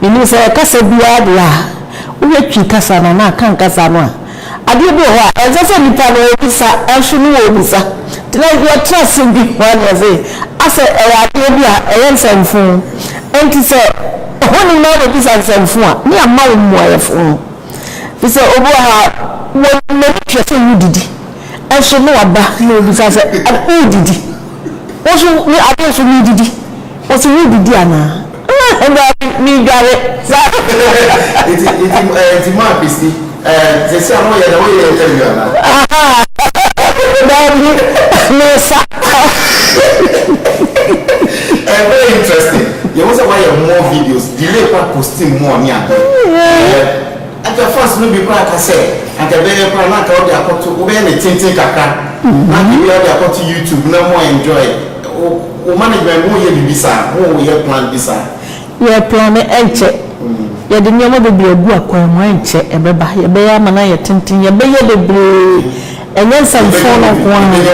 Menim sɛ kasa biara deɛ a wohwɛ Twi kasa no anaa Kan kasa no a, adeɛ bi wɔ hɔ a ɛnsɛ sɛ nipa no ɔbisa nso no ɔbisa. Nti na yɛtena ase di ho adanse asɛ ɛyɛ adeɛ bi a ɛyɛ nsɛmfo. Nti sɛ ohoni no ara na ɔbisa nsɛmfo a, ne yɛama wo mmuaɛfo no. Firi sɛ obi wɔ hɔ a, wɔ n'ani hwɛ sɛ wodidi nso no ɔba na ɔbisa sɛ wodidi? Wo nso adeɛ nso no didi? Ɔse wodidi anaa? Ah, Awurade, medware, Dabi, mesa. Eh, very interesting. You want to watch more videos? Delay kwa posting more ni ade. Eh, at the first no be kwa kase. At the very kwa na ka odi akoto. Ube ne tintin kakra. Na bi odi akoto YouTube na mo enjoy. Wo management mo yɛ biribi saa? Mo yɛ plan bi saa? Yɛ plan ɛnkyɛ yɛde nneɛma bebree agu akwan mu ɛnkyɛ ɛbɛba yɛbɛyɛ ama no ayɛ tenten yɛbɛyɛ bebree ɛnyɛ nsɛmfoo no nko ara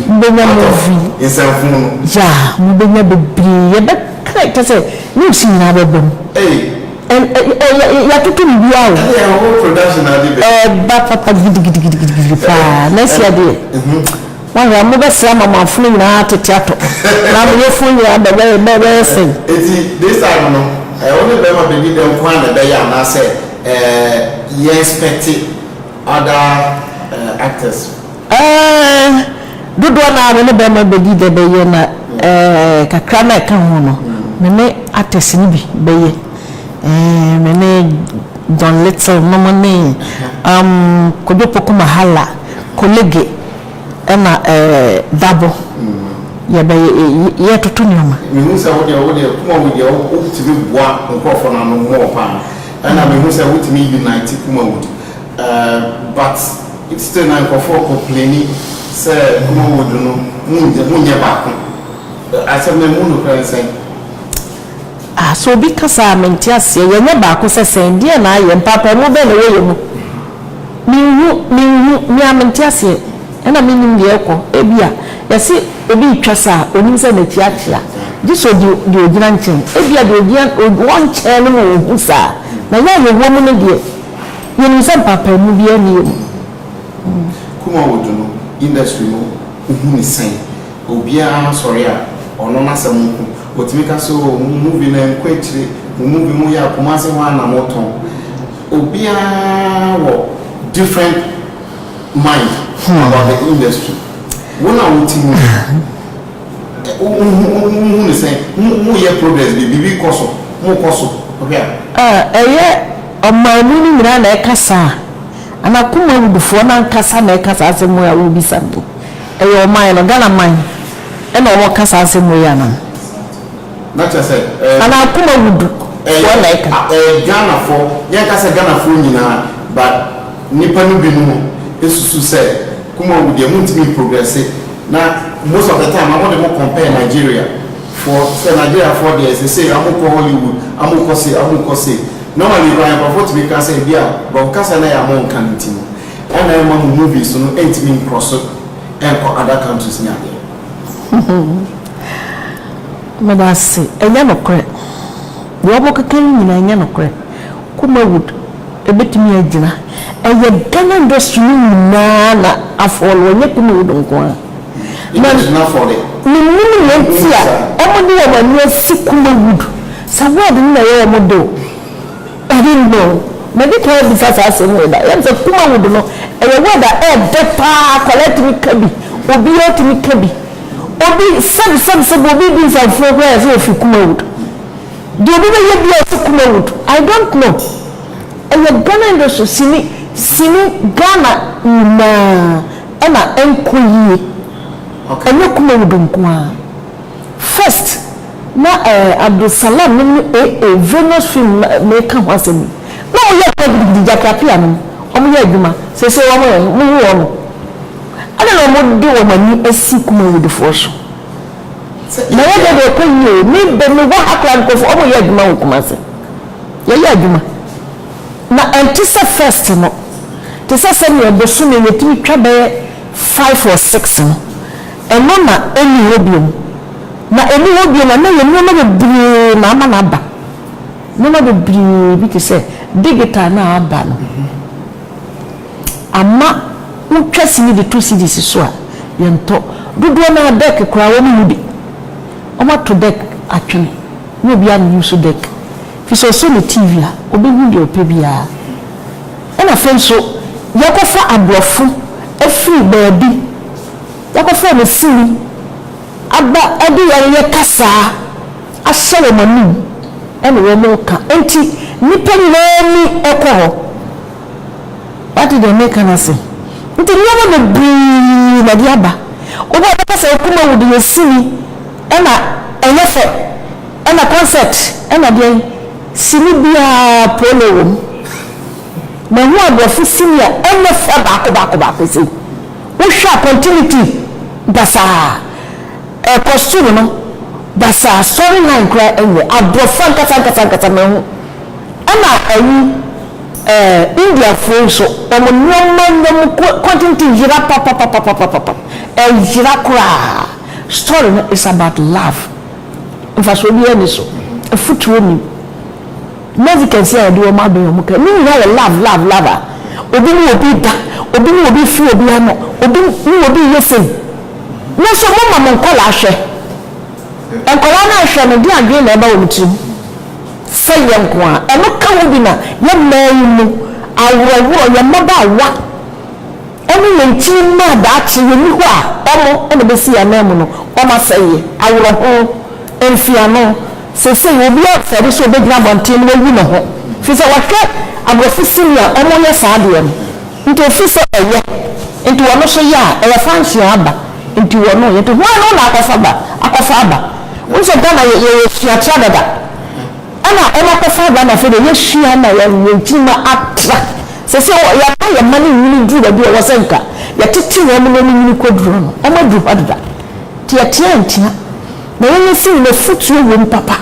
mobɛnya movie nsɛmfoo no yeah mobɛnya bebree yɛbɛka kyɛ sɛ news nyinaa bɛba mu ɛyɛ yɛatoto biribiara o ɛyɛ whole production na ade bɛ ɛɛba papa gidigidigidi paa na ɛsi adeɛ. Woahwɛ a, mobɛsɛe amamafo no nyinaa atete atɔ, na mo yefunu nyinaa bɛyɛ sɛn? Enti, this time no, ɛɛ, wo ne barima bɛdi dɛn nko ara na ɛbɛyɛ anaasɛ, ɛɛ, yɛ inspecte other, ɛɛ, actors? Ɛɛ, dodoɔ no ara me ne barima bɛdi dɛ bɛyɛ na, ɛɛ, kakra no a ɛka ho no, me ne actors no bi bɛyɛ, ɛɛ, me ne John Little nom ne, umm, Kojo Poku Mahala, Kolege, Ɛna ɛɛ dabo yɛ bɛ yɛ yɛ toto nneɛma. Me hu sɛ wo deɛ wo deɛ kuma wu deɛ wo tumi boa nkorɔfoɔ no ano more paa ɛna me hu sɛ wo tumi unite kuma wood ɛɛ but still na nkorɔfoɔ complaini sɛ kuma wood no mo nyɛ mo nyɛ baako asɛm no ɛmu nokorɛ ne sɛn. Ah sɛ obi ka saa a mente aseɛ yɛ nyɛ baako sɛ sɛn deɛn na ayɛ mpaapaamu bɛn na ɛwɔ yɛ mu. Menhu, menhu, me ara mente aseɛ, ɛna mennim deɛ ɛrekɔ. Ebia, yɛse obi retwa sa a, ɔnim sɛ n'akyi akyea, gye sɛ ɔdi deɛ ɔgyina nkyɛn. Ebia deɛ ɔgyina, ɔwɔ nkyɛn no ma ɔhu saa, na yɛn a yɛwɔ mu no deɛ, yɛnim sɛ mpaapaemu biara nni yɛn mu. Kumawood no industry no wohu no sɛn? Obiara sɔre a, ɔno n'asɛm nko. Ɔtumi ka sɛ, oh, mo movie no ɛnkɔ akyire, mo movie moyɛ a, Kumasi hɔ ara na motɔn. Obiara wɔ different mind about the industry. Wo na wo te mu no, wohu ne sɛn? Moyɛ progress bi, biribi kɔ so, mokɔ so, wohwɛ a. Ah, ɛyɛ ɔman mu no nyinaa na ɛka saa? Anaa Kumawudifoɔ no ankasa na ɛka saa asɛm wei a wobisa mpo? Ɛyɛ ɔman no, Ghana man, ɛna wɔka saa asɛm wei anaa? Na kyerɛ sɛ ɛɛ. Anaa akoma wu du foɔ na ɛka. Ɛyɛ ɛyɛ Ghanafoɔ yɛn nka sɛ Ghanafoɔ nyinaa but nnipa no binom susu sɛ kuma wu deɛ mo ntumi progrɛse na most of the time na mo de mo compare Nigeria foɔ sɛ Nigeria foɔ deɛ sesei ɔmo kɔ Hollywood ɔmo kɔ sei ɔmo kɔ sei normally koraa nkorɔfoɔ tumi ka sɛ ebia bɔb kasa no a mo nka no nti no ɛna ɛma mo movies no ntumi nkrɔso nkɔ other countries ne adeɛ. Meda ase. Ɛnyɛ nokorɛ. Deɛ wɔkeka yi nyinaa ɛnyɛ nokorɛ. Kumawood ɛbɛtumi agyina. Ɛyɛ Ghana industry no nyinaa na afɔle ɛnyɛ Kumawood nko ara. Na mennim nea nti a wɔde wɔn ani asi Kumawood. Sɛ word no na ɛyɛ wɔn dɛ o. Daabi no, madi kan abisa saa asɛm wei da. Yɛnim sɛ Kumawood no, ɛyɛ word a ɛɛdɛ paa, akwadaa tumi ka bi, obiaa tumi ka bi. Obi sɛb sɛb sɛb, obi redi nsafofuo koraa yɛse ɔfiri Kumawood. Deɛ obi bɛyɛ biaa ɔse Kumawood, I don't know. Ɛyɛ Ghana industry, sini, sini, Ghana nyinaa ɛna ɛnkɔ yie, ɛnyɛ Kumawood nkoaa. First, na eh Abdul Salam no ne AA Venus Film na meka ho asɛm yi, na ɔmo yɛ pɛ gidigidi, Jacky Appiah nom, ɔmo yɛ adwuma, seesei wɔn ɛ, mo hu wɔn mo? Adɛn na ɔmo de wɔn ani asi Kumawudifoɔ so? Na yɛ deɛ deɛ ɔkɔ yie o, me bɛ me wɔ ha koraa nkorɔfoɔ ɔmo yɛ adwuma wɔ Kumasi, yɛ yɛ adwuma, na ɛnte sɛ first no, te sɛ sɛdeɛ bosome yɛtumi twa bɛyɛ five or six no, Ɛno na enni hɔ bio. Na enni hɔ bio no, ɛnnɛ yɛ nneɛma bebree na ama no aba. Nneɛma bebree bi te sɛ digital no a aba no ama wotwa sini de to CDs so a, yɛntɔ. Dodoɔ no ara deck koraa wɔnni bi. Wɔato deck atwene. Nyɛ obiara na ɔuse deck. Ɛfiri sɛ ɔsɔ ne TV a, ɔbɛhu deɛ ɔpɛ biara. Ɛnna afei nso, yɛakɔfa aborɔfo afiri baabi. Yɛakɔfrɛ me sini aba de wɔn reyɛ kasaa ahyɛ wɔn anom ne wɔn reka enti nnipa nyinaa ani kɔ hɔ. Woate deɛ mereka no ase? Enti nneɛma bebree na ɛde aba. Obi a ɔbɛka sɛ wo Kumawu de yɛ sini na ɛnyɛ fɛ na concert na deɛn, sini biara polo wɔ mu. Mahu aborɔfo sini a ɛnyɛ fɛ baako baako baako sei. Wohwɛ a continuity basaa, ɛkɔ soro no basaa, story line koraa ɛnyɛ abrɔfo ankasa ankasa ankasa manhu. Ɛna ɛyi ɛɛ Indiafoɔ yi nso wɔn nnoɔma nyɛ mu continuity yera papapapapapapap, ɛyera koraa. Story no is about love, mfasoɔ biara nni so, afutuo nnim. Mezi kɛse a yɛde wɔn abɛn yɛn ho pɛ. Ne nyinaa yɛ love love love a obi ne obi da, obi ne obi firi obi ano, obi ne obi yɛ sei. Mo nso mo ma mo nkwadaa hwɛ. Nkwadaa no ahwɛ no deɛ adwene na ɛba wɔn tirim. Sɛ yɛn nko ara. Ɛno ka ho bi na yɛn mmaa yi mu aworɔworɔ, yɛn mmabaawa. Ɔno yɛ nkyene mu a daakye yɛnni hɔ a ɔno na ɛbɛsi yɛn ananmu no, wɔn asɛeɛ, awerɛho, mfeano. Seesei obiara refɛre sɛ ɔbɛgyina abɔnten na wayi ne ho firi sɛ wahwɛ aborɔfo sini a wɔyɛ saa adeɛ no nti ɔfiri sɛ ɛyɛ nti ɔno nso yɛ a ɛyɛ fanhyia aba nti ɔno yɛ nti hwan na ɔna akɔfa ba akɔfa aba? Wohu sɛ Ghana yɛyɛ suakyerɛ dada. Ɛna ɔmo akɔfa aba na afei deɛ yɛsua na yɛn yɛn tirim atra. Sɛsɛ wɔ yɛama yɛn mma no nwini duru baabi a ɛwɔ sɛ nka yɛtete wɔn na ɔmo nwini kɔ duro no, ɔmo aduru hɔ deda. Nti yɛteɛ antia na yɛn yɛn firi na afutuo wɔ mu papa.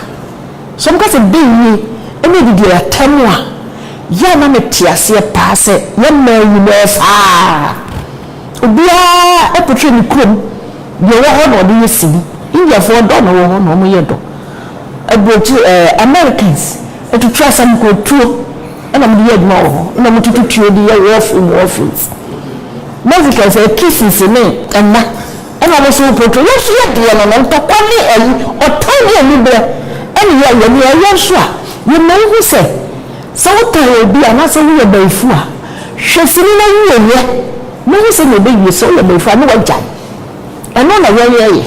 Sɛ ɔmo ka sɛ dɛn nie ɛna ɛdi deɛ yɛataa mu a, yɛ a na me te aseɛ paa sɛ yɛn mmaa nyinaa saa. Obiara ɛpotwe ne kurom deɛ ɔwɔ hɔ na ɔde yɛ sini. Indiafoɔ ɔdɔ na ɔwɔ hɔ na ɔmo yɛ dɔ. Aburokyire ɛɛ Americans tutu asam kɔ tuo ɛna wɔde yɛ adwuma wɔ hɔ ɛna wɔn tutu tuo de yɛ war film war films Mexicans ɛɛ kisses ne ɛmma ɛna wɔn nso wɔ portray yɛn nso yɛ deɛ no no ntɔkwa ne ɛyi ɔtan ne anibrɛ ɛna yɛ yɛ nea ɛyɛ nso a yɛ ma wo hu sɛ sɛ wo tan obi a anaasɛ wo yɛ bayifu a hwɛ sini na wie yɛ na hu sɛnea ɛbɛ wie sɛ wo yɛ bayifu a ne wa gyae. Ɛno na yɛyɛ yɛ.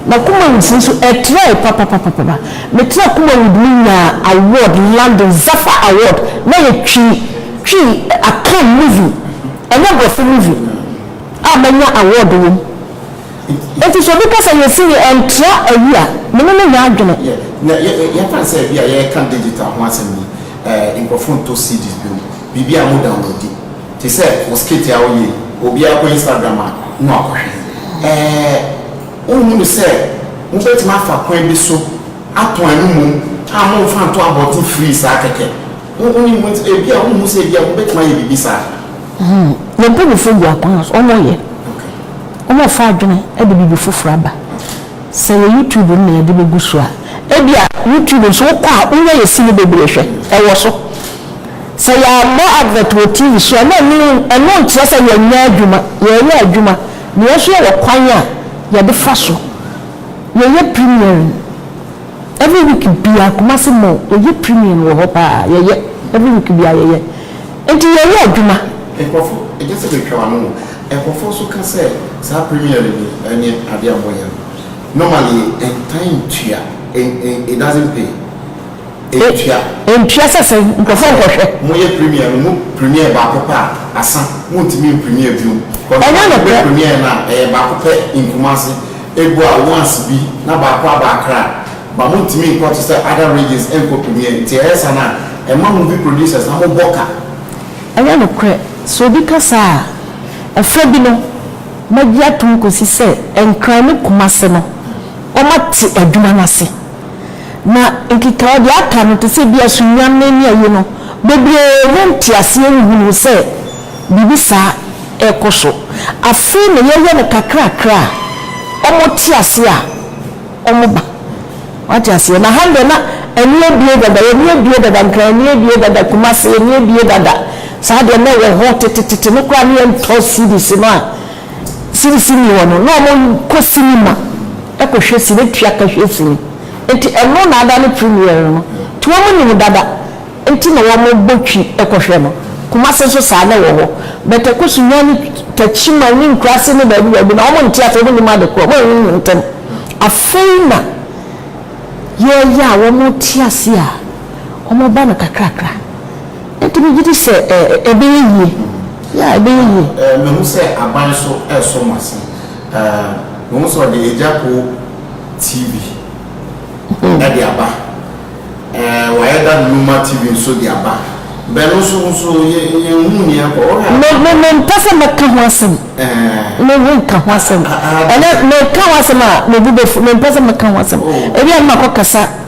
Na Kumawudfo nso ɛtrae papapapapa. Metraa Kumawud me nyaa award London Zaffa award na yɛ twi twi Akan movie ɛnyɛ brɔfo movie a manya award wom. Enti sɛ obi kasa yɛ sini ɛntra awi a me ne no nyɛ adwene. Yɛka no sɛ ebia yɛka digital ho asɛm yi nkurɔfo ntɔ CDs bio. Biribi a mo downloadi te sɛ wo skit a woyɛ yi obiara kɔ Instagram a na wakɔhwɛ. Ɛɛ wonhu no sɛ mobɛtumi afa kwan bi so atɔn ɛno mmom a momfa nto abɔnten free saa kɛkɛ? Wonim ho nti ebia wonhu sɛ ebia mobɛtumi ayɛ biribi saa? Yɛn mpanyinfoɔ gu akwan a so, wɔn yɛ, wɔn refa adwene de biribi foforɔ aba. Sɛ yɛ YouTube no na yɛde bɛgu so a, ebia YouTube nso wokɔ a wonya yɛ sini bebree hwɛ, ɛwɔ so. Sɛ yɛabɔ advert wɔ TV so a, na ɛno ɛno nkyerɛ sɛ yɛnyɛ adwuma. Yɛreyɛ adwuma. Nea ɛso yɛ wɔ kwan a yɛde fa so. Yɛyɛ premiering every week biara, Kumasi Mall, yɛyɛ premiering wɔ hɔ paa. Yɛyɛ every week biara yɛyɛ. Enti yɛreyɛ adwuma. Nkurɔfo gye sɛ metwa wɔn ano. Nkurɔfo nso ka sɛ saa premiering yi ɛnyɛ ade a wɔyɛ no normally, ɛntaa ntua, it doesn't pay. Ɛntua. Ɛntua sɛ sɛ nkurɔfoɔ nkɔhwɛ. Moyɛ premier no mo premier baako pɛ a asa montumi mpremier bio but Ɛnyɛ no pɛ. premier no a ɛyɛ baako pɛ in Kumasi egu a once bi na baako aba Accra but montumi nkɔ te sɛ other regions nkɔ premier nti ɛyɛ saa no a ɛma movie producers na mo bɔ ka. Ɛnyɛ nokorɛ, sɛ obi ka saa a, ɛfa bi no mɛgye atom kɔsi sɛ Nkran ne Kumasi no wɔate adwuma no ase Na nkekae a ɔde aka no te sɛ bi a sunnwan no ani aye no. Bebree mu nteaseɛ nhunuu sɛ biribi saa rekɔ so. Afei na yɛyɛ no kakrakra a, wɔte aseɛ a wɔba. Wate aseɛ? Na ha deɛ na ani abue dada, yɛn ani abue dada, Nkran ani abue dada, Kumasi ani abue dada. Saa deɛ na ɛwɔ hɔ tetetete no koraa na yɛntɔ cedis no a. sini sini hɔ no na ɔmo kɔ cinema kɔ hwɛ sini tua ka hwɛ sini nti ɛno na ada no premiere no nti ɔmo nim dada nti na ɔmo bɔ twi kɔ hwɛ no Kumasi nso saa na ɛwɔ hɔ but ɛkɔ so nya ne Takyiman ne Nkurase ne baabi baabi na ɔmo nte ase ɔmo nim ade korɔ ɔmo anwunwun ntɛm afei na yɛɛyɛ a ɔmo te ase a ɔmo ba no kakrakra. Ɛnti me gye di sɛ ɛbɛyɛ yie, yeah ɛbɛyɛ yie. Eh, me hu sɛ aban so ɛsɔ mo ase. Eh, me hu sɛ ɔde Agyapong TV mm-hmm. ɛde aba. Eh, wɔayɛ da Numa TV nso de aba. Bɛ no nso nso yɛ yɛ hu ni ɛkɔ. Me me me mpɛ sɛ mɛka ho asɛm. Eh. Me me nka ho asɛm. Ɛnɛ mɛka ho asɛm a me bu bɛ fu me mpɛ sɛ mɛka ho asɛm. Oh. Ebi a mma kɔ kasa.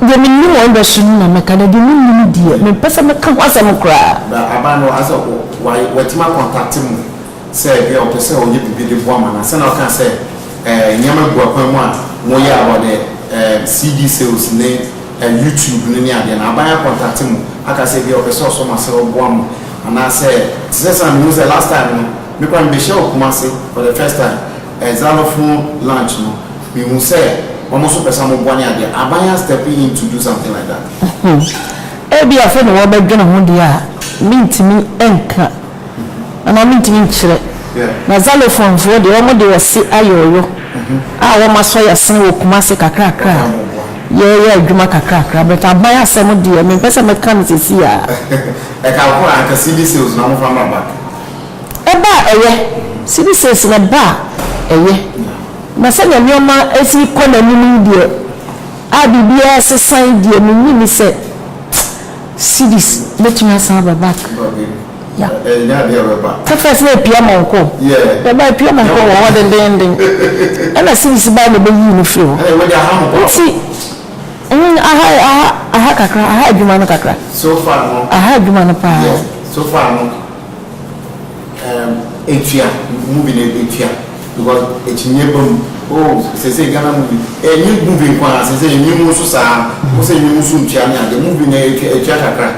Deɛ mennim wɔn bɛ so no na mɛka, na deɛ mennim deɛ, mempɛ sɛ mɛka ho asɛm koraa. Na aban no asɛ watumi akɔntakte mo sɛ ebia ɔpɛ sɛ ɔyɛ biribi de boa mo anaa? Sɛnea ɔkaa sɛ nneɛma gu akwan mu a moyɛ about the CD sales ne YouTube no ne adeɛ no, aban akɔntakte mo aka sɛ ebia ɔpɛ sɛ ɔsɔ mo asɛ ɔboa mo anaasɛ? Te sɛ sɛnea mehu sɛ last time no, me koraa mebɛhyiaa wɔ Kumasi for the first time. Xylophone lunch no mehu sɛ wɔn nso pɛ sɛ wɔboa ne adeɛ a aban a stepping in to do something like that. Ebia afei na wɔbɛdwene ho deɛ a mentumi nka anaa mentumi nkyerɛ na xylophone foɔ deɛ wɔn de ɔse ayɔɔyɔ a wɔn asɔ yɛasene wɔ Kumase kakrakra a yɛyɛ adwuma kakrakra but aban asɛm deɛ mempɛ sɛ mɛka no seesei ara. Ɛka koro a anka cedi sales na wɔmfa mmra back. Ɛba a ɛyɛ, Citizens na ɛba a ɛyɛ, na sɛnea nneɛma si rekɔ n'anim yi deɛ, a biribiara resesa yi deɛ, mennye nni sɛ Cities bɛtumi asan aba back. Ya. Ɛnyɛ adeɛ a ɛbɛba. At first na ɛpia ma ɔkɔ o. Yeah. Ɛba ɛpia ma ɔkɔ wɔ hɔ dendeenden. Ɛna Cities bae na ɛbɛyii no firii hɔ. Ɛna ɛwɔ de aha mo baako. Nti, mm, aha, aha, aha kakra, aha adwuma no kakra. So far no. Aha adwuma no paa. Yeah. So far no. Ehm etua movie no etua because ekyinyɛ ba mu oh sese Ghana movie enye movie nko ara sese enwom nso saa wo sɛ enwom nso ntua ne ade movie no etua etua kakra.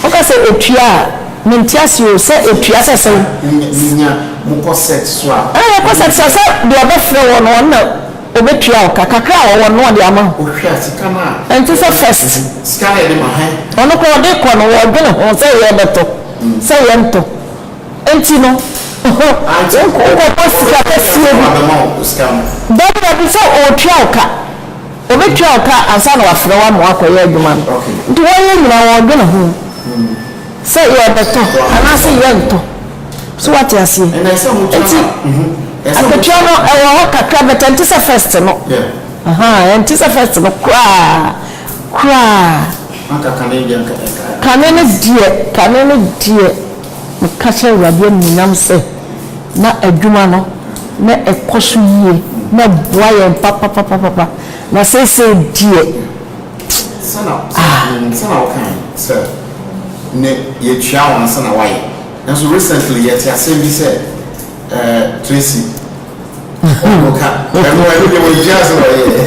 Woka sɛ etua a mente aseɛ o sɛ etua sɛ sɛn. Nya mokɔ set so a. Ɛɛ yɛkɔ set so a sɛ deɛ ɔbɛfrɛ woɔ no ɔno na. Obetua wo ka. Kakra a ɔwɔ no na ɔde ama wo. Ɔhwɛ sika no a. Ɛnte sɛ first. Sika no a yɛde ma hann. Ɔno koraa ɔde kɔ no ɔdwene ho sɛ yɛbɛtɔ, sɛ yɛntɔ nti no wonkɔbɔ sika kɛseɛ bi. Dabi dabi sɛ ɔretua wo ka. Ɔbɛtua wo ka ansa na wafrɛ wo ama woakɔyɛ adwuma no. Nti wɔyɛ nyinaa ɔdwene ho sɛ yɛbɛtɔ anaasɛ yɛntɔ. So wate aseɛ? Nti akatua no ɛwɔ hɔ kakra but ɛnte sɛ first no. Ahaa, ɛnte sɛ first no koraa koraa. Kane no deɛ, kane no deɛ, meka hyɛ Awurade animuonyam sɛ na adwuma no na ɛkɔ so yie, na ɛboa yɛn papapapapa. Na seesei deɛ, ah. Sɛdeɛ wokaeɛ sɛ, ne yɛtua wɔn ansa na wɔayɛ. Nanso recently yɛte asɛm bi sɛ Tracy ɔno ka ɛno ɛno deɛ wɔgyaa sɛ wɔyɛɛ.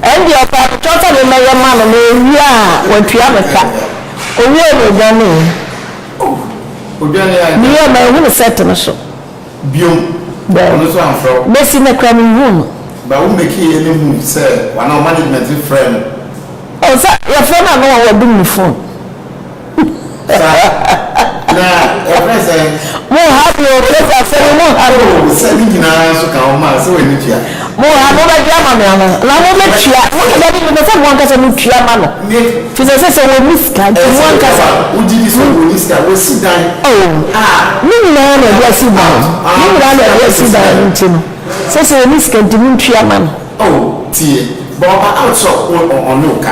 Ɛndeɛ ɔpaa mekra sɛ memɛyɛ ma no na ɔwie a watua me ka. Ɔwiee no ɔdwaneeɛ. Oh ɔdwaneeɛ anka. Meyɛɛ mahunu set no so. Bio, ɔno nso amfrɛ wo. Mesi nnɛ koraa menhuu no. But wo make yɛ me hu sɛ w'anaa wo management frɛɛ no. Oh sɛ yɛfrɛ no a na wɔ wadum ne phone. Sa na yɛfrɛ sɛn? Mo ha me o, Kate asɛm yi mo ha me o. Oh sɛ ne nyinaa nso ka ho ma sɛ w'ani tua. Mowɔ ha, mobɛgye ama me anaa? Anaa mobɛtua? Mose, Dabi, mepɛ sɛ mo ankasa motua ma no, ɛfiri sɛ ɛsɛ sɛ wɔnni sika, nti mo ankasa mo. O, ne nyinaa na ɛde asi dan no, ne nyinaa na ɛde asi dan no, nti no, ɛsɛ sɛ wɔnni sika, nti montua ma no. O, tie, bɔ ɔba out sɛ ɔko, ɔne wo ka.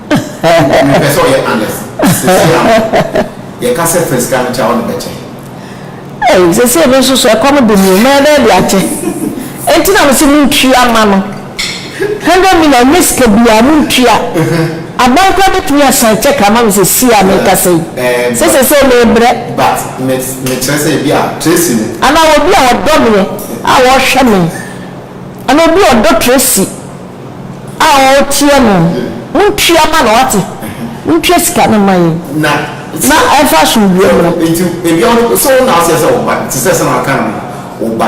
Mepɛ sɛ ɔyɛ Alex sesei ara no. Yɛka sɛ fa sika no kyɛ a, ɔde bɛkyɛ. Ei, sesei me nso so, ɛkɔm de me o, mɛyɛ dɛn de akyɛ? Enti na mese montua mma no. Hundred million, ɛnyɛ sika biara, montua. Aban koraa bɛtumi asan cheque ama me sesei a mekasa yi, sɛ sesei mebrɛ. But me, mekyerɛ sɛ ebia Tracy no. Anaa obi a ɔdɔ meɛ a ɔhwɛ me. Anaa obi a ɔdɔ Tracy. a ɔreteɛ no montua ma no wate montua sika no ma yɛn na ɛmfa asomdwoeɛ mmra. Nti ebia wo de so wo na aseɛ sɛ wo ba te sɛ sɛnea waka no no wo ba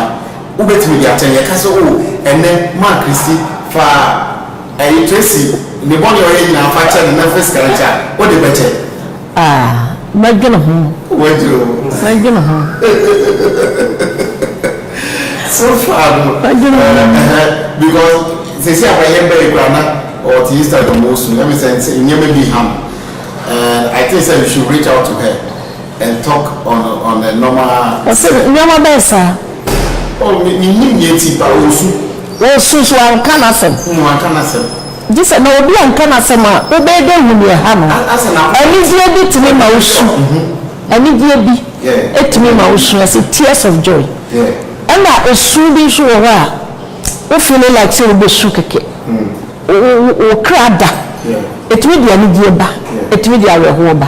wobɛtumi de akyɛ no yɛka sɛ oo ɛnɛ maa Christy fa ɛyi Tracy ne bɔne a ɔyɛ nyinaa fa kyɛ no na fa sika no kyɛ a wode bɛkyɛ? Ah, mɛdwene ho. Wobɛdwene ho? Mɛdwene ho. So far no. Mɛdwene ho. Eh, eh, eh, because sɛsi a bɛyɛ bɛyɛ kura na ɔte Instagram wɔ so ɛmi sɛ nsɛ nneɛma bi ham and I think sɛ you should reach out to her and talk on on a normal. Ɔsɛ nneɛma bɛyɛ saa. Oh, mi mi nim nea ti pa osu. Osu so anka n'asɛm. Nwa anka n'asɛm. Gye sɛ na obi anka no asɛm a, wobɛyɛ dɛ hu nea ɛha no. Anigyeɛ bi tumi ma wo su. Anigyeɛ bi tumi ma wo su, yɛse tears of joy. Ɛna esu bi nso wɔ hɔ a, wo feeling like sɛ wobɛsu kɛkɛ. Wo kra da. Ɛtumi de anigyeɛ ba, ɛtumi de awerɛhoɔ ba.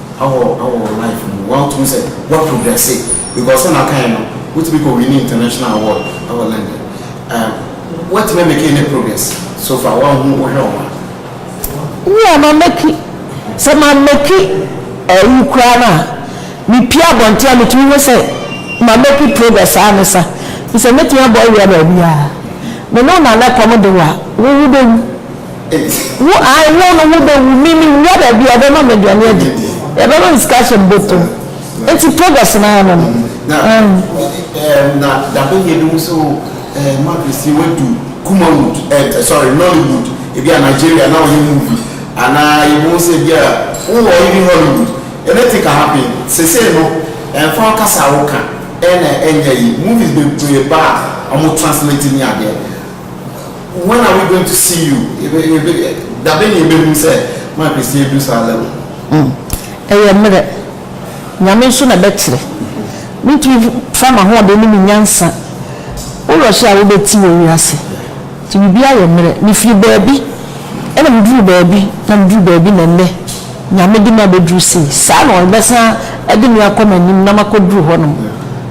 awɔ awɔ wo life mu woatum sɛ woa progress because sɛnea ɔkaeɛ no wotumi kɔ winni international award ɛwɔ London ɛɛm woatumi amake any progress so far woanhu wohwɛ wo ho a. Me a ma make sɛ ma make ayi koraa no a me pue abɔnten a metumi hu sɛ ma make progress aa ne sa me sɛ mɛtumi abɔ awia baabi aa me ne wo Nana kɔm de wo a wo wo bɛwu. nti. Wo ae wo no wo bɛ wu mimi wura baabi a ɔbɛ ma me aduane adi yɛbɛ ma me sika ahyɛ me bɔtɔ mu nti progress naa no no ɛɛm. Na dabe yɛ bi mu sɛ o ɛɛ Maguesi wadu Kumawood ɛɛ sorry Nollywood ebi a Nigeria na ɔyɛ movie anaa yɛ bohu sɛ ebi a wo wɔ even Hollywood anything can happen sesei no ɛnfa wo kasa a wo ka ɛna ɛnyɛ yi movies bebree ba a ɔmo translate ni adeɛ When are we going to see you? Dabe na yɛbɛhu sɛ ma Christian du saa level. Ɛyɛ mmerɛ. Nyame nso na ɛbɛkyerɛ. Mentumi fa m'ahoɔden ne me nyansa rush a wobɛti wɔ wiase. Nti biribiara yɛ mmerɛ. Mefiri baabi na meduru baabi na meduru baabi na nnɛ Nyame de me abɛduru sei. Saa na ɔbɛsan de me akɔ m'anim na makɔduru hɔnom.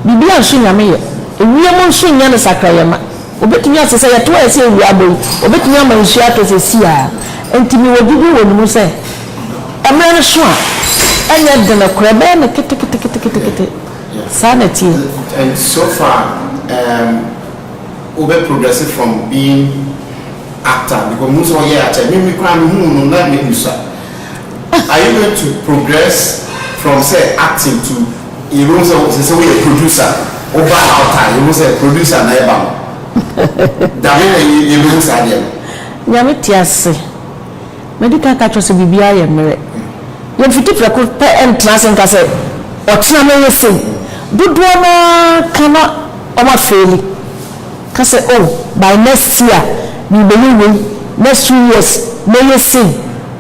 Biribiara nso Nyame yɛ. Ewiem nso nnyɛ ne sakrayɛ ma. Wobetumi ase sɛ yɛtow ayɛ sɛ awia abɔ yi, wobetumi ama nsu atɔ sɛ siaa. Enti mewɔ gyidi wɔ ne mu sɛ mmara no sõ a ɛnyɛ den koraa, ɛbɛyɛ no keteketekete. Saa na ɛteɛ. And so far um wo bɛ progress from being actor because mehu sɛ ɔyɛ akyɛ me me koraa me huu no na me bisa. Are you going to progress from sɛ acting to yɛbɛhu sɛ sɛ sɛ woyɛ producer woba a ɔtaa yɛhu sɛ producer na ɛba no dabe na yɛbɛhu saa deɛ no. Nyame te ase. Madi kan aka akyerɛ wo sɛ biribiara yɛ mmerɛ. Yɛmfiti prɛko pɛ ntena ase nka sɛ ɔkyena mɛyɛ sei. Dodoɔ no ara ka na wɔafeeli. Ka sɛ, Oh, by next year, merebɛyɛ wei, next two years, mɛyɛ sei.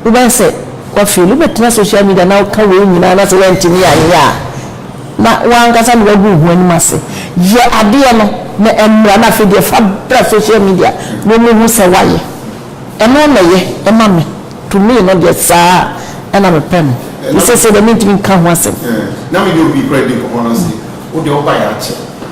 Wobɛyɛ sɛ woafeeli. Wobɛtena social media na woka wei nyinaa na sɛ woantumi anyɛ a, na w'ankasa na woagu wo ho anim ase. Yɛ adeɛ no na ɛmmra na afei deɛ fa bra social media na wɔmmɛhu sɛ woayɛ. Ɛno na ɛyɛ ma me. To me no deɛ, saa ara na mepɛ no. Nti seesei deɛ mentumi nka ho asɛm. Na me ne obi koraa di nkɔmmɔ na ɔse, Wo deɛ wobaeɛ akyɛ.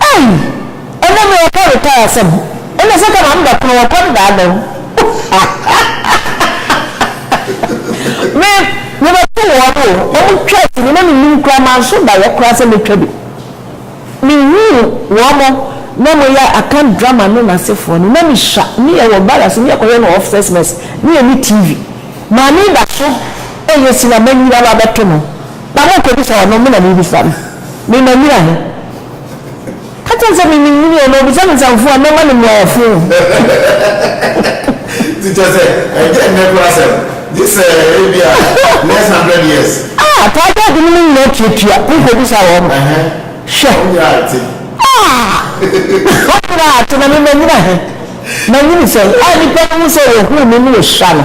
Ei! Ɛnɛ me ɔkɔ retire asɛm ɛnɛ sɛ kama me bɛkono wɔ kɔn daa no me me bɛto wɔn o wɔn twa sini na me nim koraa manso da yɛ koraa sɛ me twa bi me huu wɔn na mo yɛ akan drama no na sefoɔ no na me sua me yɛ wɔ barracks me yɛ kɔyɛ no officers mess me yɛ ne TV maame da so ɛyɛ sini a manyini aba abɛto no. Na morekɔbisa ɔno, me na merebisa no, me manyina he? Ka kyerɛ no sɛ, Menim nyini ɔno, obisa me nsɛm fo a, mɛma no mmuaeɛ fo. Nti kyerɛ sɛ, ɛnyɛ nnɛ koraa asɛm, gye sɛ ebia next hundred years. A, taa gye ade no mu nyinaa tuatua ho kɔbisa wɔn. Ɛhɛ, Hwɛ! wo nyera ate. A, wo nyera ate, na me manyina he? Manyini sɛn? A, nnipa no hu sɛ wɔhuu me ne wɔhyira no.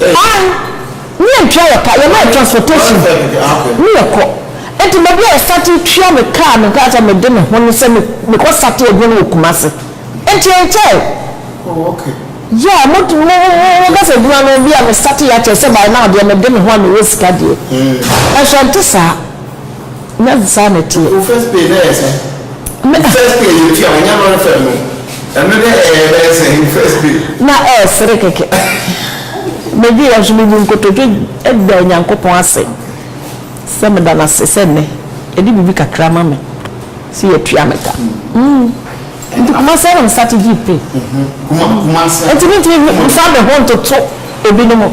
Ae, ne yɛn tua yɛ ka, yɛma yɛ transportation ne yɛ kɔ. Nti me deɛ yɛ sate tua me kaa me nka sɛ me de me ho ne sɛ me me kɔ sate adwuma no wɔ Kumasi. Nti ɛnkyɛɛ. Oh ok. Yeah mo mo mo mo ka sɛ adwuma no bi a me sate yɛ akyɛ sɛ by now deɛ me de me ho a me wɔ sika deɛ. Nso ɛnte saa. Nyɛ saa na ɛteɛ. Wo first pay na ɛyɛ sɛn? Wo first pay a yɛtua wo nyɛ lɔre fare no, ɛno na ɛyɛ bɛyɛ sɛn? Wo first pay. Na ɛresere kɛkɛ. Medweeɛ nso mebu nkotodwe daa Nyankopɔn ase sɛ meda no ase sɛ nnɛ yɛde biribi kakra ama me sɛ yɛatua me ka. Nti Kumasi ara na me starte gyee pay. Nti mentumi mfa me ho ntoto ebinom.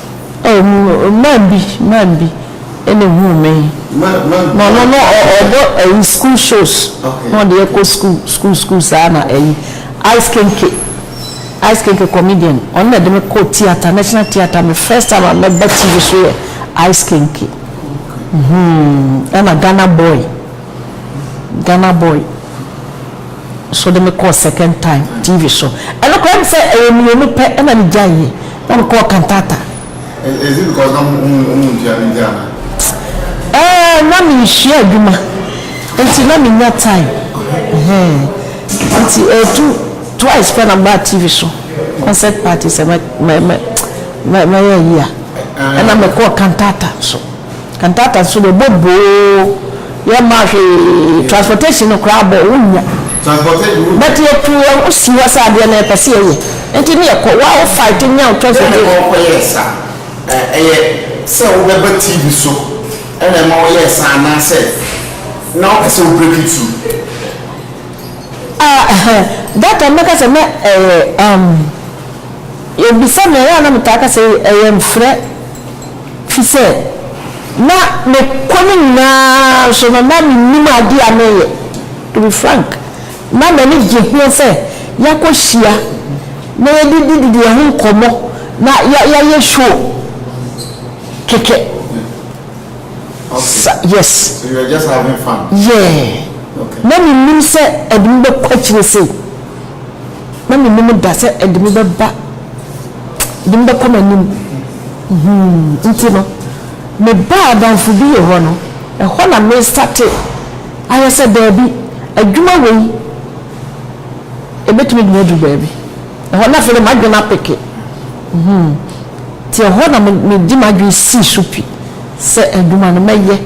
Man bi man bi na ehuu me na ɔno no ɔbɔ ayi school shows na ɔde yɛ kɔ school school school saa na ayi ice kenke ice kenke comedian ɔno na ɛde me kɔ theatre national theatre me first time a mɛba tv so yɛ ice kenke hmm ɛna Ghana boy. Ghana boy nso de me kɔɔ second time TV so. Ɛno koraa ne sɛ ɛyɛ mmienu pɛ na me gyae yɛ na me kɔɔ cantata. Is it because na ɔmo ɔmo ntua no nti anaa? Ɛɛ na me nhyia adwuma nti na me nya time ɛhɛɛ nti ɛtu twice pɛ na me baa TV so concert party sɛ mɛ mɛ mɛ mɛ mɛyɛ ayi a ɛna me kɔɔ cantata nso. Ntaata so no bo boo yɛ maa hwee transportation no koraa bɔ wo nnya but yɛ tu yɛn ho si hɔ sɛ adeɛ no yɛ pɛ sɛ yɛ yɛ nti ne yɛ kɔ wa wo fight nya wo transportation. Dɛn na ɛma wo kɔ yɛɛ sa? Ɛyɛ sɛ wo bɛ ba TV so ɛna ɛma wo yɛɛ sa anaa sɛ na wo pɛ sɛ wo break through? Ah ɛhɛ that time mɛka sɛ na ɛyɛ umm yɛ bisa me a yɛ a na me taa ka sɛ ɛyɛ mfrɛ Te sɛ na me kɔ no nyinaa nso no na mennim ade a mereyɛ. To be frank, na m'ani gye ho sɛ yɛakɔhyia na yɛdidididi yɛn ho nkɔmmɔ na yɛayɛ show kɛkɛ. Sa, yes. So you were just having fun? Yeah. Okay. Na mennim sɛ ɛde me bɛkɔ akyire sei. Na mennim da sɛ ɛde me bɛba, ɛde me bɛkɔ m'anim. Hum, nti no, me baa adamfo bi yɛ hɔ no, ɛhɔ na me starte ayɛ sɛ daabi, adwuma wei ɛbɛtumi de me aduru baabi. Ɛhɔ na afei na m'adwene apeke. Hum, nti ɛhɔ na me, me de m'adwene sii so pi sɛ adwuma no mɛyɛ,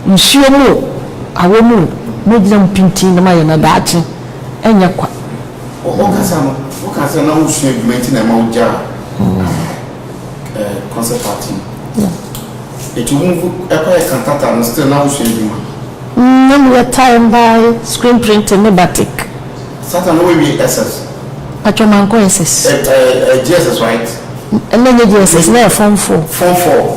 nsuo mu o, awɔ mu o, mɛgyina mu pintinn na mayɛ na daakye ɛnyɛ kwa. Ɔkasa no, woka sɛ na wosua adwuma nti na ɛma wogyaa concert art no. Ɛti wo ɛkɔyɛ cantata no still na wosua adwuma? Na meyɛ tie and dye, screen printing ne batik. Sata na woawie SS? Patwɔ mankɔ SS. Ɛyɛ GSS right? Na ɛnyɛ GSS, na ɛyɛ form four. Form four.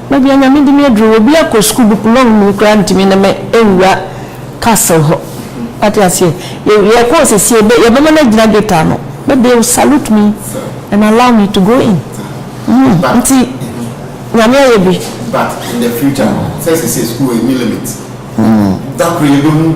Baabi a Nyame de me aduru wɔ obi akɔ sukuu bepɔ long mu koraa ntumi ne me nwura castle hɔ wate aseɛ yɛ yɛ kɔɔ sɛsi yɛbɛ yɛbɛ ma no agyina gate ano but they will salute me and allow me to go in mm nti Nyame ayɛ bi. But in the future no sɛ sɛsi sukuu ɛni limit mm dakoro yɛbɛ hu.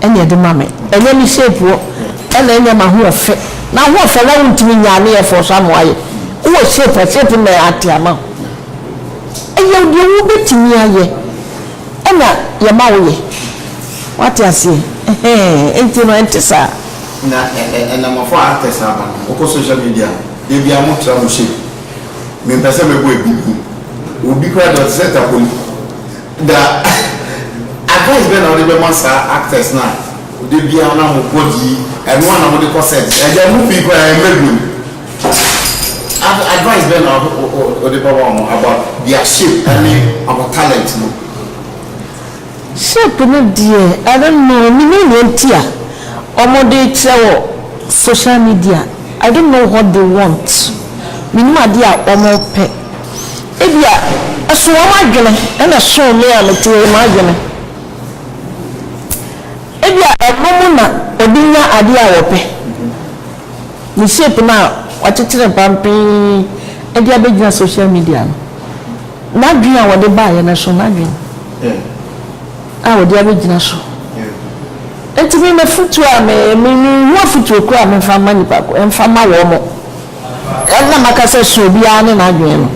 Ɛna ɛde ma me. Ɛnyɛ me shape wo. Ɛna ɛnyɛ m'ahoɔfe. N'ahoɔfɛ na wontumi nyaa ne yɛ fɔɔ so ama wayɛ. Wowɔ shape a shape no na ate ama wo. Ɛyɛ deɛ wobɛtumi ayɛ ɛna yɛma wo yɛ. Wate aseɛ ɛhɛɛ ɛnti no ɛnte saa. Na ɛna mafo actors no aba no wokɔ social media a da biara mo tra mo shape. Mempɛ sɛ mɛbɔ abibim. Obi koraa deɛ ɔte sɛ tapoli. Da advice bɛn na wode bɛma saa actors no a da biara na mo body yi ɛno ara na mode kɔ set ɛda ɛmu pii koraa ɛmma biom ad advice bɛn na wode bɛma wɔn about their shape ɛne wɔn talent no. Shape no deɛ I don't know menim nea nti a wɔde kyerɛ wɔ social media I don't know what they want menim adeɛ a wɔpɛ. Ebia ɛso wɔn adwene na ɛsoo me a metiee m'adwene. Ebia ɛno mu na wɔde nya adeɛ a wɔpɛ. Me shape no a wɔakyekyere pampee de abɛgyina social media no, n'adwene a wɔde baeɛ no ɛsoo n'adwene a wɔde abɛgyina so. Enti me m'afotuo a me, me, menhu afotuo koraa a memfa mma nnipa ko, mfa mma wɔn. Ɛm na maka sɛ sua obiara ne n'adwene no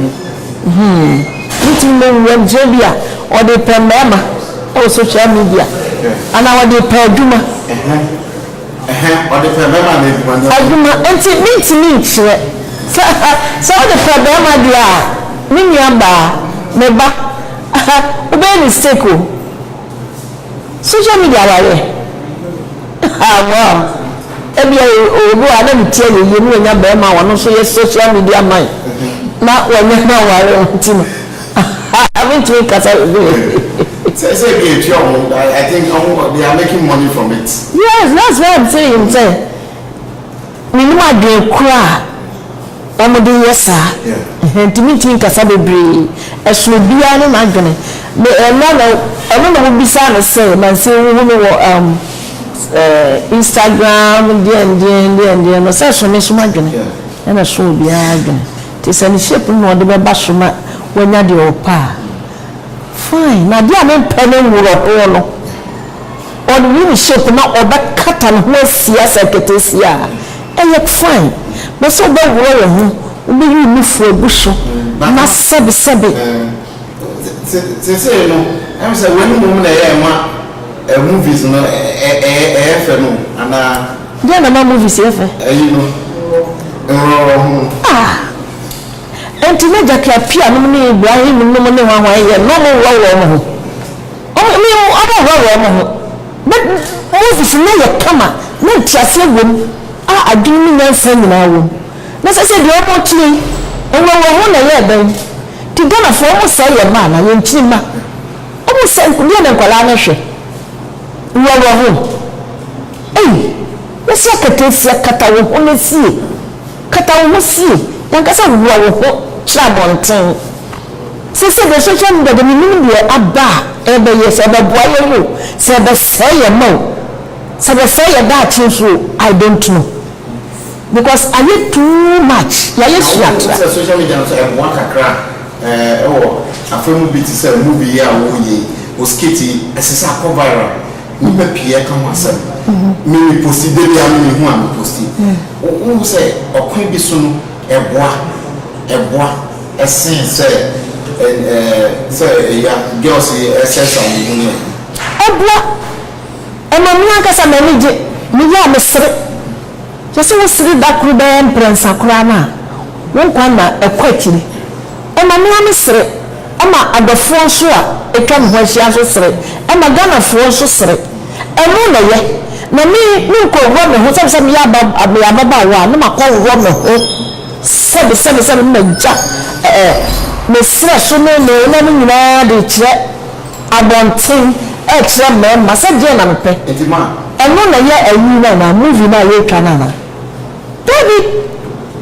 hmm. Wotumi ma owu anigyeɛ bi a ɔde pɛ mmarima wɔ social media anaa ɔde pɛ adwuma. Ɔde pɛ bɛrima anaa adwuma no. Adwuma nti mentumi nkyerɛ sɛ sɛ wode pɛ bɛrima deɛ a me nua baa, me ba wobɛyɛ mistake o. Social media awareɛ haa wow ebia ɔwɔ bi wɔ a na ne ti ayɛ yie na wanya bɛɛma a ɔno nso yɛ social media man na wanya no aware ɔno nti no haa mentumi nkasa Sɛ sɛ ebi etua wɔn ho I think wɔn they are making money from it. Yes that's why I'm saying sɛ. Menim adwene korɔ a wɔn de yɛ saa, ntumi ntumi nkasa bebree, ɛso obiara ne n'adwene, me ɛnna na ɔno na wobisaa no sɛ nanse wohu me wɔ um eh Instagram deɛn deɛn deɛn deɛn no sɛ ɛso me nso m'adwene ɛna ɛso obiara adwene, nti sɛ ne shape no na ɔde bɛba so na wanya deɛ ɔpɛ a fine, na adeɛ a mempɛ ne nworɔhoɔ no. Ɔnwene shape na ɔbɛkata ne ho asia sɛ ketesia a, ɛyɛ fine. But sɛ wobɛworɔ wo ho, wobɛyi wo nufu agu so na sɛbe sɛbe. Sesei no ɛm sɛ wei mmom na ɛyɛ ma movies no ɛyɛ fɛ no anaa? Deɛn na ɛma movies yɛ fɛ? Ɛyi no, nworɔworɔ ho no. Ah! Ɛnti na Jackie Appiah nom ne Ibrahim nom ne hwan hwan yɛ na ɔmo worɔworɔ ɔmo ho? Wɔn mu a wɔhohora wɔn ho ho bɛ Moses nne yɛ kama, na nteaseɛ wɔ mu a adwene ne nyansa nyinaa wɔ mu. Na ɛsɛ sɛ deɛ wɔretie nwanwa ho na ɛyɛ dɛn? Nti Ghanafoɔ wɔn sɛe yɛn mma anaa? Yɛn nkyini mma? Wɔn sɛe deɛ na nkwadaa no hwɛ? Nwanwa ho? Ei! Yɛse akatasia kata wo ho na sie, kata wo ho sie, yɛnka sɛ hohora wo ho kyerɛ abɔnten. Sɛ sɛ yɛhwehwɛ no dada, menim deɛ aba a ɛbɛyɛ, sɛ ɛbɛboa yɛn o, sɛ ɛbɛsɛe yɛn mma o, sɛ ɛbɛsɛe yɛn daakye nso o, I don't know because ayɛ too much, yɛayɛ Na wohu sua-tra. sɛ social media nso ɛboa kakra a ɛɛ wɔ afa mu bi te sɛ movie yi a woreyɛ yi, wo skit yi, ɛsɛ sɛ akɔ viral, nnipa pii ɛka ho asɛm, me me posti, da biara no mehu a me posti, wo wohu sɛ ɔkwan bi so no Ɛboa, ɛboa, ɛsen sɛ ɛ, ɛ, sɛ ɛya, girls yi, ɛsɛ sa wɔn mu no. Ɛboa, ɛma me ankasa m'ani gye, meyɛ a mesere. Yɛse wosere da koro bɛyɛ mprɛnsa koraa no a, wo nkwa nna ɛkɔ akyiri. Mmamea no sere, ɛma adɔfoɔ nso a atwa me ho ahyia nso sere, ɛma Ghanafoɔ nso sere. Ɛno na ɛyɛ, na me, menkɔwura me ho sɛbe sɛ meyɛ aba, meyɛ ababaawa a, na makɔworɔ me ho sɛbe, sɛbe, sɛbe, na magya ɛ, ɛ, me serɛ so ne me nna no nyinaa de rekyerɛ abɔnten, rekyerɛ mmarima sɛ deɛn na mepɛ. Ɛno na ɛyɛ ayi no anaa, movie no a yɛretwa no anaa? Dabi!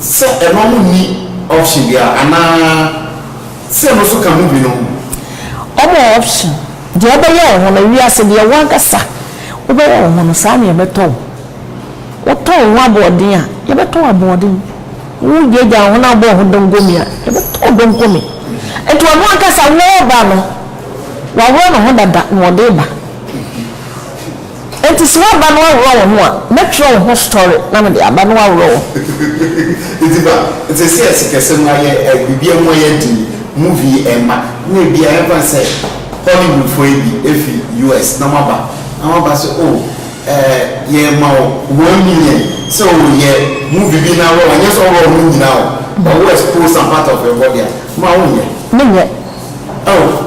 Sɛ ɛma mo nni option biara anaa sɛ ɛno nso ka mo bi no ho. Ɔma wo option. Deɛ wobɛyɛ wo ho no, wiase deɛ wo ankasa wobɛyɛ wo ho no, saa na yɛbɛtɔ wo. Wotɔ wo ho aboɔden a, yɛbɛtɔ wo aboɔden. Wogyagya wo ho na wobɔ wo ho donkomi a, yɛbɛtɔ wo donkomi. Nti ɔno ankasa, wɔreba no, waworɔ ne ho dada na ɔde reba. Enti se woaba na woaworɔ wo ho a, mɛtwerɛ wo ho story na mede aba na woaworɔ wo ho. Enti ba, te seɛ sikasem mu ayɛ eh, biribiara mu ayɛ den yi, movie eh mma, na ebia yɛmfa no sɛ Hollywood foɔ yi bi efi US na wɔaba, na wɔaba se oh eh yɛrema wo one million sɛ oh yɛ movie bi na worɔ, ɛnyɛ sɛ worɔ wo ho nyinaa o, but wo expose some part of your body a, ma wonyɛ? Menyɛ. Oh.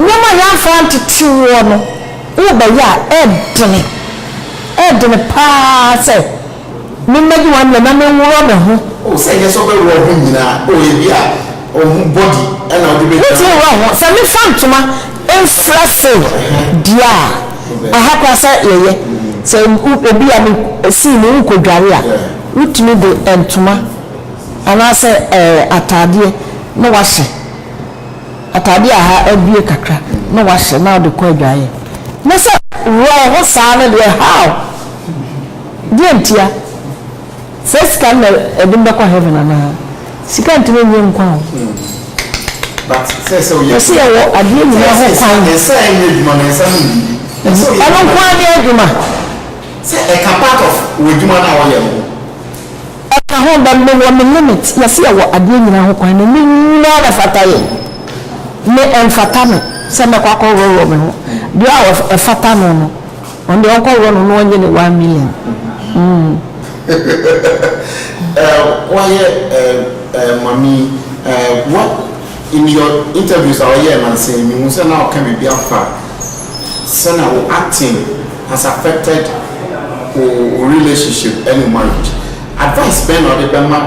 Nneɛma a yɛamfa antete woɔ no, worebɛyɛ a, ɛredene, ɛredene pa ara sɛ memmɛdi w'amerɛ na menworɔ me ho. O, sɛ ɛnyɛ sɛ wobɛworɔ wo ho nyina a, o, ebia wo ho body na wode bɛgyina. Wotumi worɔ wo ho. Sɛ mefa ntoma mfira save deɛ a, ɛha koraa sɛ yɛyɛ, sɛ ebia me scene no worekɔdware a, wotumi de ntoma anaasɛ ɛɛ ataadeɛ na woahyɛ. atade a ha abue kakra na wahyɛ na ɔde kɔ adwaeɛ na sɛ wɔ ho saa no deɛ how? Deɛ ntia? Saa sika no na ɛde me bɛkɔ heaven anaa? Sika ntumi nye nkwa o. Yɛse yɛwɔ adeɛ nyina ho kwan. Ɛno nkoaa ne adwuma. Sɛ ɛka part of w'adwuma no a wɔyɛ no ho. Ɛka ho bɛ me wɔ me limit yɛse yɛwɔ adeɛ nyinaa ho kwan na ne nyinaa na ɛfata yɛn me ɛnfata me sɛ mɛkɔ akɔ worɔworɔ me ho deɛ a ɛfata no no ɔno deɛ ɔnkɔ worɔ no na ɔnyɛ ne one million mm. Wayɛ mami what in your interviews a ɔyɛɛ nansa yi mehu sɛ na ɔka biribi afa sɛna wo acting has affected wo relationship ɛne wo marriage advice bɛn na ɔde bɛma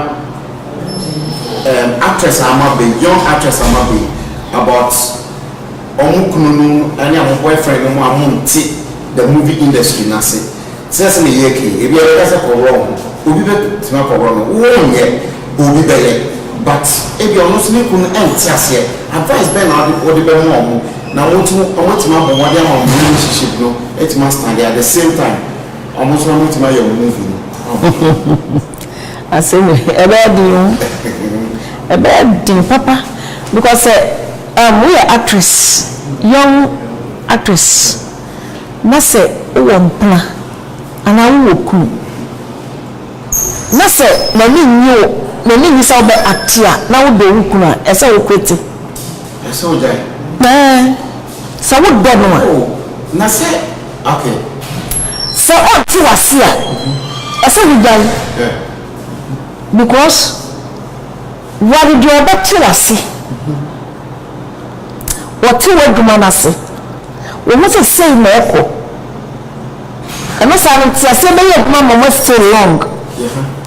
ɛɛm actress a ama ba yi young actress a ama ba yi about ɔmo kunu nom ɛne ɔmo boyfriend nom a ɔmo nte the movie industry n'ase sɛ sɛ na yɛɛka yi ebi a yɛbɛka sɛ kɔworɔ ho obi bɛ tumi akɔworɔ no wo nyɛ bɔ obi bɛyɛ but ebi a ɔno nso ne kunu ɛnte aseɛ advice bɛn na ɔde ɔde bɛma ɔmo. Na wɔtumi wɔatumi abɔ mmɔden ama wɔn relationship no atumi astande at the same time wɔn nso na wɔatumi ayɛ wɔn movie no. Asɛm yi ɛbɛyɛ den o ɛbɛyɛ den papa because sɛ um, woyɛ actress young actress na sɛ wowɔ mpena anaa wowɔ kunu na sɛ n'ani nnye wo n'ani nnye sɛ wobɛ acte a na wodɔ wo kunu a ɛsɛ wo quite. Ɛsɛ sɛ ogyae. Ɛɛ, sɛ wodɔ no a. Oh, na sɛ, okay. Sɛ ɔnte wo ase a, ɛsɛ wogyae. Yeah. Because ware deɛ ɔbɛte wo ase. Ɔte w'adwuma no ase. Ɔhu sɛ sei na ɛkɔ. Ɛno saa no, nteaseɛ bɛyɛ adwuma ma mo stay long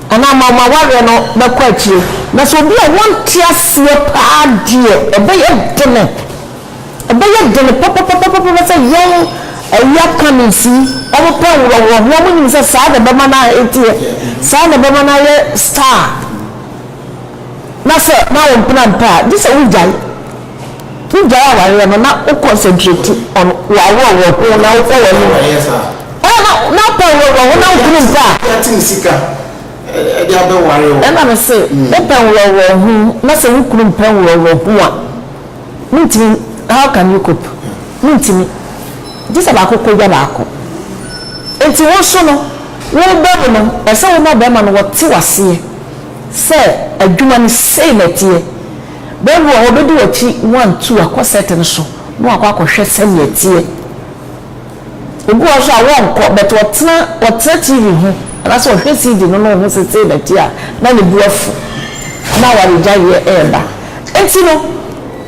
anaa ma mo awareɛ no bɛkɔ akyire. Na sɛ obi a wɔnte aseɛ paa deɛ, ɛbɛyɛ dene, ɛbɛyɛ dene papapapapapa sɛ yɛn awia Cummings yi, wɔpɛ nworɔworɔ ho, wɔnim sɛ saa na ɛbɛma no aheteɛ, saa na ɛbɛma no ayɛ star, na sɛ na ɔmpena mpɛ a, gye sɛ wogyae. Wo gyae awareɛ no na wo concentrate on w'aworɔworɔ ho na wo kɔ w'anim. Ɛna na na wo pɛ nworɔworɔ ho na wo kunu mpɛ a. Yɛate ne sika ɛde abɛ ware wo. Ɛna me se wo pɛ nworɔworɔ ho na sɛ wo kunu mpɛ nworɔworɔ ho a mo ntimi how can you cope mo ntimi gye sɛ baako kɔ dwa baako nti wo nso no wo bɛ mu no ɛsɛ wo ma bɛɛma no wɔte waseɛ sɛ adwuma no sei na ɛteɛ. Bɛ wɔ hɔ, bedi w'akyi, one two, akɔ set no so na wakɔ akɔhwɛ sɛnea ɛteɛ. Obi wɔ hɔ nso a wɔnkɔ but ɔtena ɔtena TV ho anaasɛ ɔhwɛ CD no na ohu sɛ sei na ɛteɛ a, na ne bo afu na awaregyaeɛ reba. Enti no,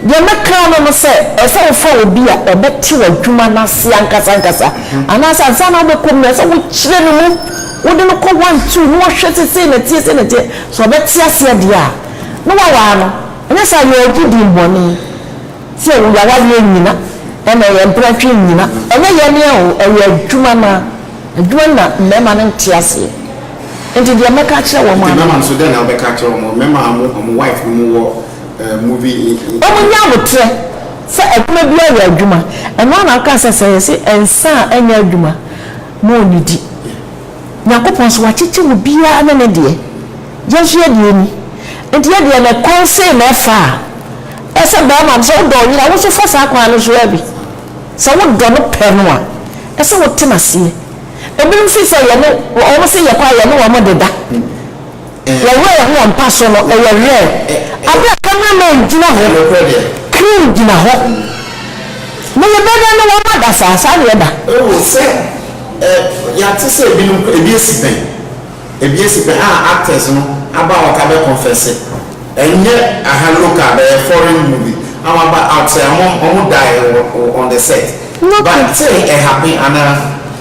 deɛ mɛka ara ne sɛ, ɛsɛ sɛ wofa obi a ɔbɛte w'adwuma no ase ankasa ankasa anaasɛ ansa na wobɛkɔ mu no, ɛsɛ sɛ wokyerɛ no mu, wode no kɔ one two na wahwɛ sɛ sei na ɛteɛ, sei na ɛteɛ. Sɛ ɔbɛte aseɛ deɛ a. No wawaa no ɛnyɛ saa yɛɛdi din bɔne sɛ wo yawareɛ nyina ɛna ɛyɛ mprɛtwe nyina ɛnyɛ yɛ nea o ɛyɛ adwuma no ara adwuma no na mmarima no nte aseɛ nti deɛ mɛka akyerɛ wɔn ara no. Nti mmarima no nso dɛn na wobɛka akyerɛ wɔn mmarima a wɔn wɔn wife nom wɔ movie. Wɔn nyɛ aboterɛ sɛ adwuma biara yɛ adwuma ɛno ara na wokaa sɛ sɛ yɛse nsa a ɛnyɛ adwuma na ɔnnidi. Nyankopɔn so wakyekye mu biara ne ne deɛ, yɛn nso yɛ deɛ ni. Enti yɛ deɛ na kwan sei na ɛfa a, ɛyɛ sɛ barima no, sɛ wodɔ wo yere a, wo nso fa saa kwan no so ara bi. Sɛ wodɔ no pɛ no a, ɛsɛ sɛ wote no aseɛ. Ebinom firi sɛ yɛne wɔn se yɛkɔ a, yɛne wɔn deda. Wɔn werɛ ho wɔn mpa so no yɛ rare bere a camera man gyina hɔ, crew gyina hɔ na yɛbɛyɛ dɛn ne wɔn ada saa? Saa na yɛda. Oh, sɛ yɛate sɛ ebinom koraa, ebi asi pɛn, ebi asi pɛn a actors no aba out abɛ confesse, ɛnyɛ aha local but ɛyɛ foreign movie a wɔaba out sɛ wɔn wɔn die wɔ on the set, but sɛ ɛhappen anaa?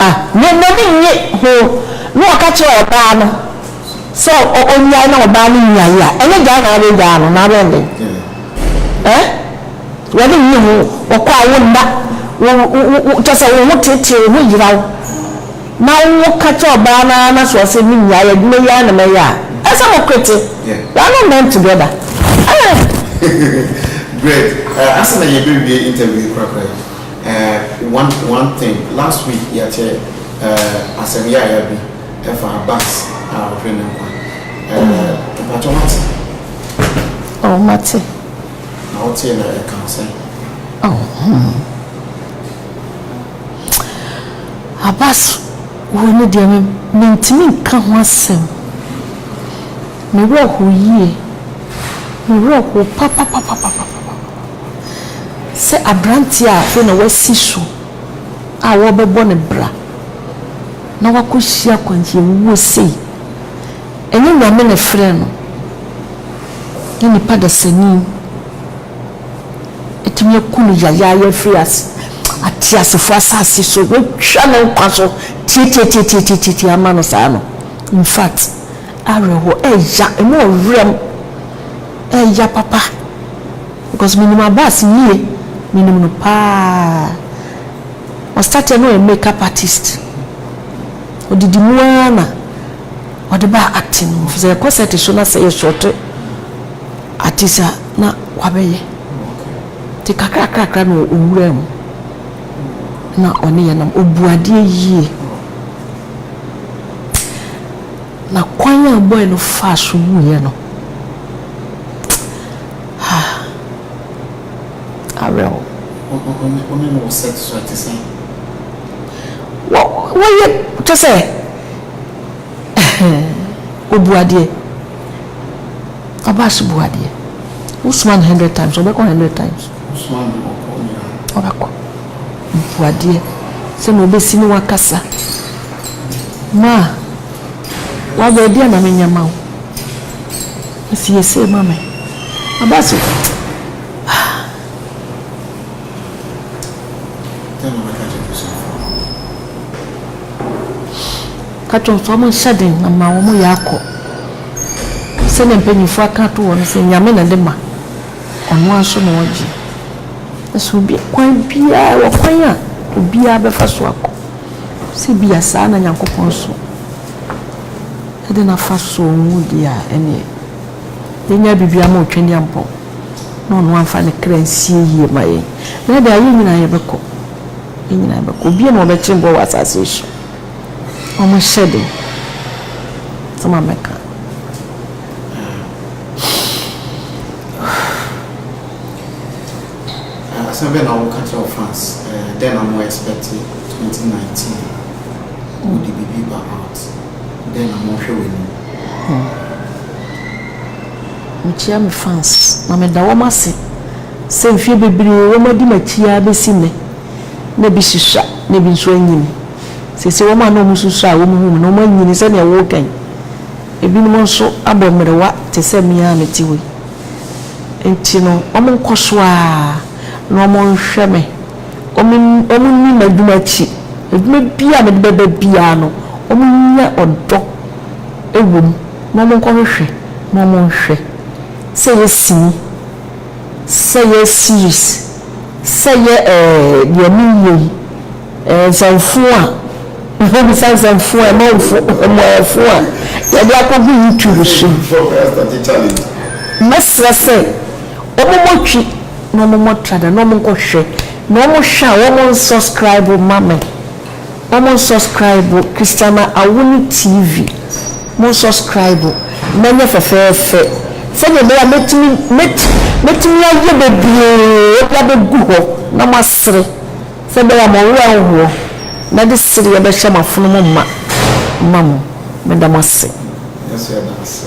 A Na n'ani nnye ho, na ɔka kyerɛ ɔbaa no sɛ onnyae, na ɔbaa no nyae a, ɛnyɛ gyaa na abɛgyaa no, na abɛyɛ dɛn? Ɛ? W'ani nnye ho, ɔkɔ a wo nna, wo, wo, wo, kyerɛ sɛ wo ho teetee, wo ho yera wo, na woka kyerɛ ɔbaa no ara na sɛ ɔse me nyae adwuma yi ara na mɛyɛ a, ɛyɛ sɛ mo kwete. You are not meant together. Ɛ? Greg, ɛ, ansa na yɛbɛwie interview yi korakora yi, Eh one one thing last week yɛte eh asɛm yaaya bi ɛfa bus a ɔhwɛ ne nkwa eh mpakyɛ wate? Oh mate. Na wotee na ɛka wo sɛn? Oh hmm a bus wuo no deɛ me mentumi nka ho asɛm me werɛ how yie me werɛ how papapapapapa. Sɛ aberanteɛ a afei na wasi so a wɔrebɛbɔ no bra na wakɔhyia akwanhyiawuo sei, ɛnyɛ Nyame na ɛfrɛɛ no, na nipa dasani atumi aku no yayaaya afiri ateasefoɔ asase so, watwa ne nkwa so tiatiatiatiatiatia ama no saa no, in fact, awerɛhoɔ ɛya, ɛmu ɔwerɛm. Ɛya papa because me nim Abass yie me nim no paa ɔ start yɛ na ɔyɛ make up artist ɔdidi mu aa na ɔde baa acting mu sɛ yɛkɔ set so na sɛ yɛ short artist a na wabɛ yɛ nti kakra kakra na ɔwuraa mu na ɔne yɛ nam ɔbu adeɛ yie na kwan a boy no faa so wuiɛ no. Ha! Awerɛhow. Wo ne no wɔ sex so a, ɛte sɛn? Wɔ, wɔyɛ, kyɛ sɛ, obu adeɛ. Ɔbaa so bu adeɛ. Wosoma no hundred times, ɔbɛkɔ hundred times. Wosoma no ɔkɔ nyinaa. Ɔbɛkɔ. Obu adeɛ. Sɛ na ɔbɛsi ne wakasa. Ma, waba adi a na menyɛ ma wo. Siesie ma me. Aba so. Ka kyerɛ nso wɔn nhyɛ den na ma wɔn yɛ akɔ. Sɛnea mpanyinfoɔ aka ato hɔ no sɛ nyame na de ma. Ɔno ara nso na ɔgye. Ɛsɛ obi kwan biara wɔ kwan a obiara bɛfa so akɔ. Sɛ bia saa na Nyankopɔn nso. Ɛde na fa sɔ ngo di a ɛneɛ yɛnya biribiara ma Otwaniampɔn na ɔno amfa ne kra nsie yie ma yɛn na ɛde a yɛn nyinaa yɛbɛkɔ yɛn nyinaa yɛbɛkɔ obia na ɔbɛkye boɔ wɔ asase yi so ɔmo hyɛ den sɛ ma mɛka asɛm bɛn na woka kyerɛ wɔ France dɛn na mo expect 2019 wode biribi ba out Dɛn na wɔhwɛ w'anim? Hon. Mikyia me fans na meda wɔn ase sɛ mfeɛ bebree wɔn adi m'akyi ara bɛsi nnɛ. Na ebi susua na ebi nso anyini. Seesei wɔn a na wɔn susua a wɔn hu me no wɔn anyini sɛdeɛ woka yi. Ebinom nso abɔ mmerewa te sɛ me ara a mete hɔ yi. Nti no wɔn nkɔ so ara na wɔn nhwɛ me wɔnni m'adwuma akyi, adwuma biara a mede bɛba biara no, wɔnnya ɔdɔ wɔ mu, na wɔnkɔhwehwɛ na wɔnhwɛ. Sɛ ɛyɛ sini, sɛ ɛyɛ series, sɛ ɛyɛ ɛɛ deɛ menyɛ yi, ɛɛ nsɛmfo a, wobisa nsɛmfo a, amanfo, amanyɛfo a wɔde akɔgu YouTube so yi, mɛsrɛ sɛ wɔmmɔ twi. na ɔmo mɔ tra da na ɔmo nkɔ hwɛ na ɔmo hwɛ a ɔmo nsɔskraibo ma me ɔmo nsɔskraibo Christiana Awuni TV mo nsɔskraibo na ɛnyɛ fɛfɛɛfɛ sɛdeɛ ɛbɛyɛ a mɛtumi mɛtumi ayɛ bebree de abɛgu hɔ na mo asere sɛ ɛbɛyɛ a mo werɛ anhoɔ na de sereɛ bɛhyɛ mo afono mo ma ma mo meda mo ase. Yɛso yɛda ase.